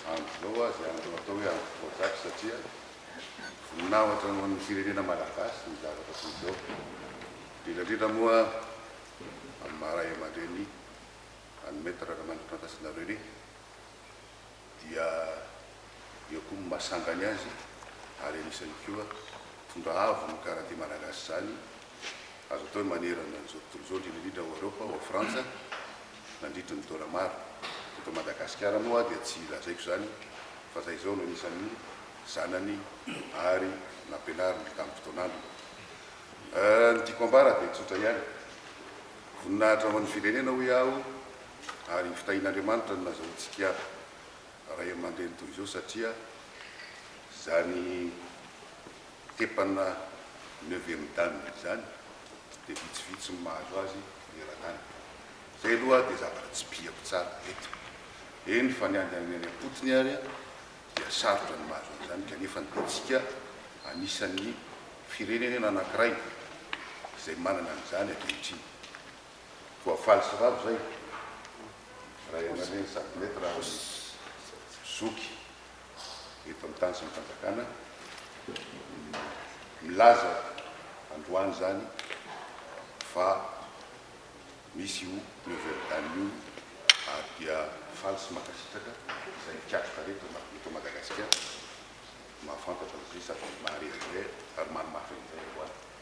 Amin'izao aza azo atao hoe andro voazaky satria voninahitra ho an'ny firenena malagasy ny zavatra toy izao. Indrindra indrindra moa amin'ny maha ray aman-dreny an'i Maître Ramanantsoa Fantasinareo René. dia eo koa ny maha sangany azy ary anisany koa mpitondra avo ny karate malagasy izany, azo atao hoe manerana an'izao tontolo izao, indrindra indrindra ao Eoropa, ao Frantsa, nandritry ny taona maro. Eto Madagasikara moa dia tsy lazaiko izany fa izahay izao no anisan'ny zanany ary nampianariny tamim-potoanany. Ny tiako ambara dia tsotra ihany, voninahitra ho an'ny firenena hoy aho, ary hofitahin'Andriamanitra ny nazahoantsika ray aman-dreny toy izao satria izany tepana neuvième dan izany dia vitsivitsy ny mahazo azy manerana any. Izay aloha dia zavatra tsipihako tsara eto. Eny fa ny any any am-potony ary dia sarotra ny mahazo an'izany kanefa ny antsika anisan'ny firenenena anankiray izay manana an'izany ankehitriny. Voafaly sy ravo zay ray aman-dreny sady mety raha misy zoky eto amin'ny tany sy ny fanjakana milaza androany zany fa misy io nouvelle dame io ary dia faly sy mankasitraka izay mikatroka reto eto Madagasikara mahafantatra an'izay sady maharery izay ary manamafy an'izay androany.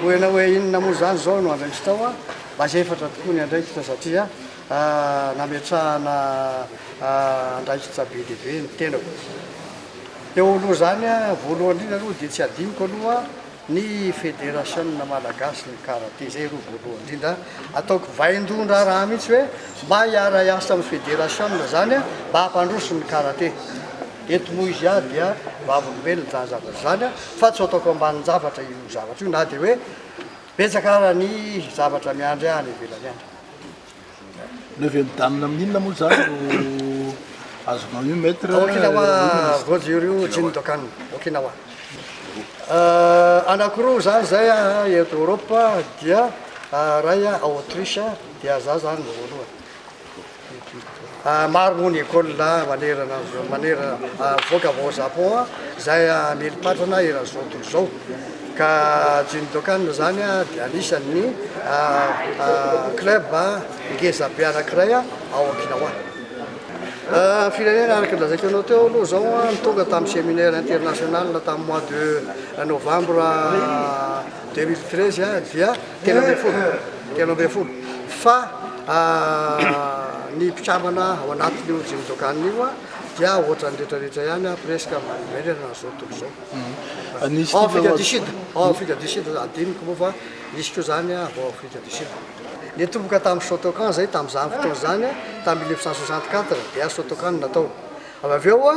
Hoena hoe inona moa izany izao no andraikitra ao? Mba efatra tokoa ny andraikitra satria nametrahana andraikitra be dia be ny tenako. Teo aloha izany, voalohany indrindra aloha dia tsy hadinoko aloha Ny Federasiona Malagasin'ny Karate, izay aloha voalohany indrindra, ataoko vaindohan-draharaha mihitsy hoe mba hiara-hiasa amin'ny Federasiona izany mba hampandroso ny Karate. Eto moa izy aho dia vavolombelona izany zavatra izany fa tsy ataoko ambanin-javatra io zavatra io na dia hoe betsaka ara ny zavatra miandry ahy any ivelany any. Ny avy mijanona amin'ny inona moa izany no azonao io Maître? Ao Okinawa, Rojo ryu Jindokan, Okinawa. Anakiroa zany zay eto Europe dia ray Autriche dia za zany voalohany. Maro moa ny école manerana manerana mivoaka avy ao Japon izay hamely patrana eran'izao tontolo izao ka Jindokan izany dia anisan'ny club ngeza be anankiray ao Okinawa. Ny firenena araka ny lazaiko anao teo aloha izao ny tonga tamin'ny séminaire international tamin'ny mois de novembre deux mille treize dia telo ambin'ny folo telo ambin'ny folo fa ny mpikambana ao anatin'io Jimdokan io dia ohatran'ny retraretra ihany presque manerana izao tontolo izao hmm. ao Afrika du Sud ao Afrika du Sud adiniko moa fa nisy koa zany ao Afrika du Sud nitomboka tamin'ny Shotokan zay tamin'izany fotoana izany tamin'ny 1964 dia Shotokan natao Ary avy eo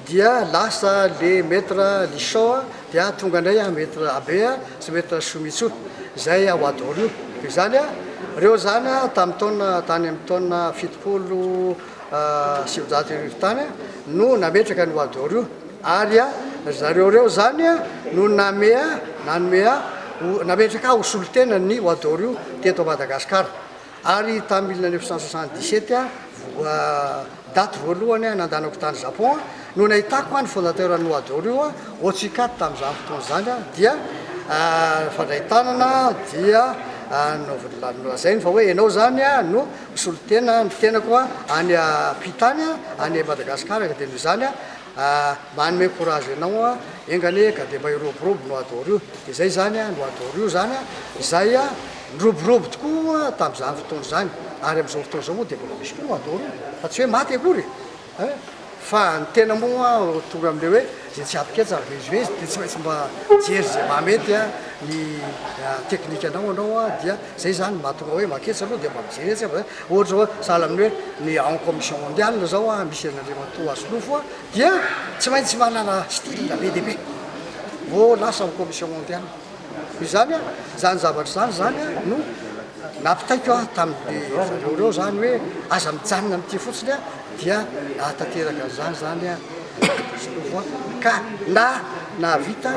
dia lasa le Maître Lichon dia tonga indray an Maître Abe sy Maître Somitsu izay ao Adoro io. Dia izany an, ireo izany an tamin'ny taona tany amin'ny taona fitopolo sy sivinjato sy arivo tany an no nametraka an'io Adoro io. Ary an ry zareo ireo izany an no name an nanome an ho nametraka ho solontenan'ny Adoro io teto Madagasikara. Ary tamin'ny mille neuf cent soixante dix sept, daty voalohany nandanako tany Japon, no nahitako ny fondateur an'i Nohadoro io, Otsuka tamin'izany fotoana izany, dia nifandray tanana, dia nolazainy fa hoe ianao izany no mpisolo tena ny tenako any am-pi tany, any Madagasikara, ka dia noho izany Ah mba hanome courage anao an! Enga anie ka dia mba hiroborobo no adoro io dia izay izany an! no adoro io izany an! izay an! niroborobo tokoa tamin'izany fotoana izany ary amin'izao fotoana izao moa dia mbola misy koa no adoro fa tsy hoe maty akory e! fa ny tena moa tonga amin'ilay hoe izay tsy ampiketsa mivezivezy dia tsy maintsy mba jery izay maha mety an! ny technique anao anao an! dia izay izany mahatonga hoe maketsa aloha dia mba mijery etsy an! Ohatra zao hoe sahala amin'ny hoe ny en commission mondiale zao a, misy an'Andriamatoa Asolofo a, dia tsy maintsy manana style be dia be vao lasa en commission mondiale. Izany a, izany zavatra izany izany a no nampitaiko aho tamin'ny zareo ireo izany hoe aza mijanona amin'ity fotsiny a, dia nahatanteraka an'izany izany a Asolofo a, ka na nahavita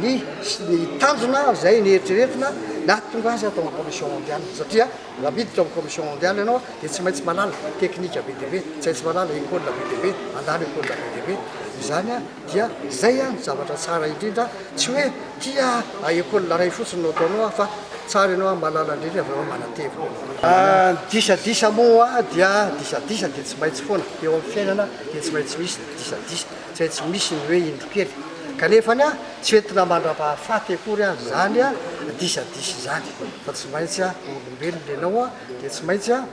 ny ny tanjona izay neritreretina nahatonga azy hatao en commission mondiale satria. Raha miditra amin'ny Commission Mondiale ianao dia tsy maintsy mahalala teknika be dia be, tsy maintsy mahalala école be dia be, handalo école be dia be. Izany dia izay no zavatra tsara indrindra, tsy hoe tia école iray fotsiny no ataonao fa tsara ianao mahalala an'ireny avy eo manatevina. Ny disadisa moa dia disadisa dia tsy maintsy foana, eo amin'ny fiainana dia tsy maintsy misy ny disadisa, tsy maintsy misy ny hoe indro kely. Kanefany Tsy entina mandrapaha faty akory aza izany a disadisa izany fa tsy maintsy a olombelona ianao a dia tsy maintsy a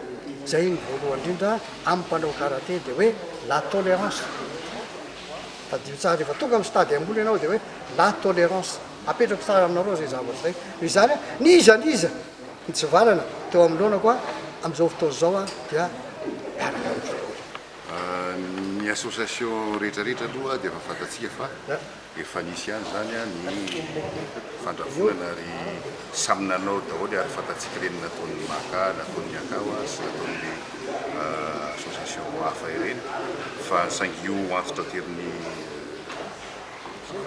izay ny voalohany indrindra amin'ny mpanao karate dia hoe la tolérance tadidio tsara rehefa tonga amin'ny stade ambony ianao dia hoe la tolérance apetrako tsara aminareo izay zavatra izay noho izany a n'iza n'iza nitsivalana teo amin'ny loanako a amin'izao fotoana izao a dia miaraka amin'ny voalohany. Ny association rehetrarehetra aloha dia efa fantatsika fa Efa nisy ihany izany ny fandrahonana ary samy nanao daholo ary fantatsika ireny nataon'ny Maka, nataon'ny Akawa sy nataon'ny association hafa ireny fa saingy io antso taterin'ny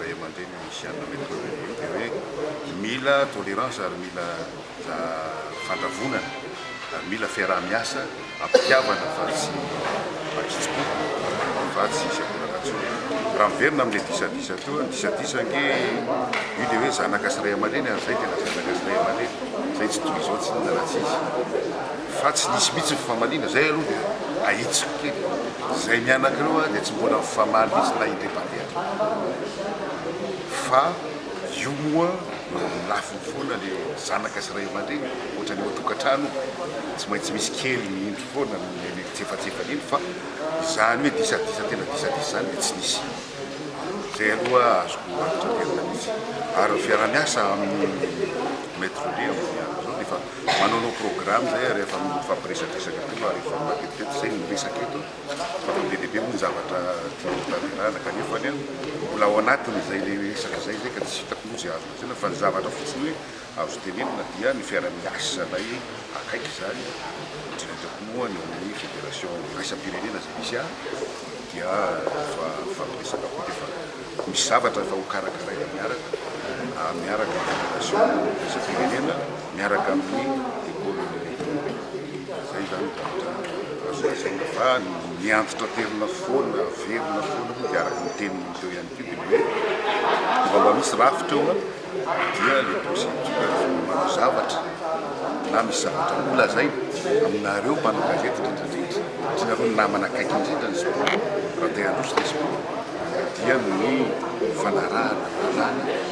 ray aman-dreny misy an'i Maître René io dia hoe mila tolérance ary mila fandrahonana ary mila fiaraha-miasa Am-pitiavana fa tsy an-kitsim-po, fa tsy izay mbola natsoina. Raha miverina amin'ilay disadisa teo, ny disadisa ange io dia hoe zanaka sy ray aman-dreny ary izay tena zanaka sy ray aman-dreny, izay tsy toy izao tsy inona na tsy iza. Fa tsy nisy mihitsy ny fifamaliana, izay aloha dia ahitsiko kely. Izahay mianaka ireo dia tsy mbola mifamaly mihitsy na indray mpandeha aza. Fa. Io moa eo amin'ny lafiny foana le zanaka sy ray aman-dreny ohatran'ny ao an-tokantrano tsy maintsy misy kely ny indro foana amin'iny fitsefatsefana iny fa izany hoe disadisa tena disadisa izany dia tsy nisy. Izay aloha azoko antonterana mihitsy ary ny fiarahamiasa amin'ny Maître Roger amin'izao dia efa manaonao programme izay ary efa mifampiresadresaka koa ary efa matetitety izay ny resaka eto. Tena be dia be moa ny zavatra tiany hotanterahana kanefa anie mbola ao anatin'izay resaka izay izay ka tsy hitako moa izay azo lazaina fa ny zavatra fotsiny hoe azo tenenina dia ny fiaraha-miasanay akaiky izany indrindra indrindra moa ny eo amin'ny fédération iraisam-pirenena izay misy ahy dia efa mifampiresaka koa dia efa misy zavatra efa hokarakaraina miaraka miaraka amin'ny fédération iraisam-pirenena. miaraka amin'ny économie rehetra. Zay zany zavatra azo lazaina fa ny antitra terina foana velona foana moa dia araka ny teninao teo ihany koa dia hoe vao mba misy rafitra eo dia le procédure manao zavatra na misy zavatra ho lazaina aminareo mpanao gazety indrindra indrindra satria nareo ny namana akaiky indrindra ny zao raha te handroso ny sport dia ny fanarahana lalàna